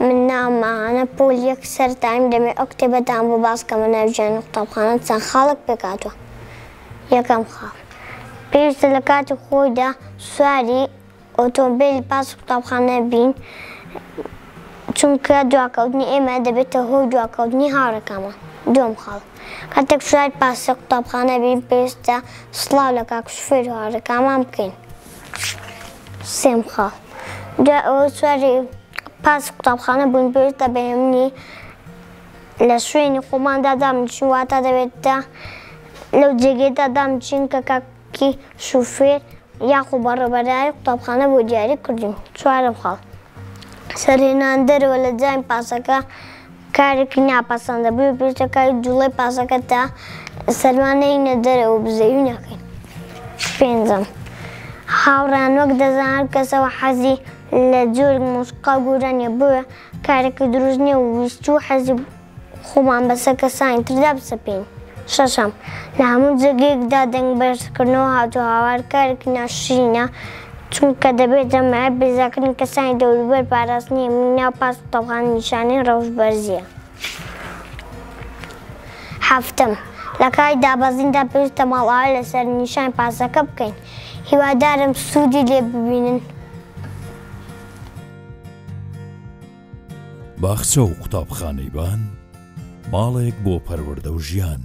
من ناوم ئاهانە پۆل یەک سەر تایم دەمێ ئەو کتێبە دام بۆ باس کەمە ناوی ژیانی قوتابخانە چەند خاڵێک پێک هاتوە یەکەم خاڵ پێویستە لە کاتی خۆیدا سواری ئۆتۆمبێلی پاس قوتابخانە بین چونکە دواکەوتنی ئێمە دەبێتە هۆی دواکەوتنی هاوڕێکانمان دووەم خاڵ کاتێک سواری پاسە قوتابخانە بین پێویستە سڵاو لە کاک شوفێر و هاوڕێکانمان بکەین. سێم خاڵ دوای ئەوەی سواری پاسی قوتابخانە بووین، پێویستە بە هێمنی لە شوێنی خۆماندا دابنیشین، واتە دەبێت لەو جێگەیەدا دابنیشین کە کاکی شوفێر یاخۆ بەڕێوەبەرایەتی قوتابخانە بۆ دیاری کردووین. چوارەم خاڵ، سەرهێنان دەرەوە لە جامی پاسەکە کارێکی ناپەسەندە بۆیە پێویستە کاری جوڵەی پاسەکە تا سەرما نەینە دەرەوە بزەوی نەکەین. پێنجەم، هاوڕێیان وەک دەزان هەر کەسەوە حەزی لە جۆرێک مۆسیقا گۆران یە بۆیە کارێکی دروست نیە و ویستی و حەزی خۆمان بەسەر کەسانی تردا بسەپێین. شەشەم، لە هەموو جێگەیەکدا دەنگ بەرزکردنەوە هاتوهاوار کارێکی ناشرینە، چونکە دەبێت جەماعەت بێزارکردنی کەسانی دەوروبەر پاراستنی ئەمنی ناو پاس و تەوقاندن نیشانەی ڕەوشت بەرزیە. حەفتەم، لەکاتی دابەزیندا پێویستە ماڵئاوای لە سەرنیشانی پاسەکە بکەین. هیوادارم سوودی لێ ببینن. باخچە و قوتابخانەی بان، ماڵێک بۆ پەروەردە و ژیان.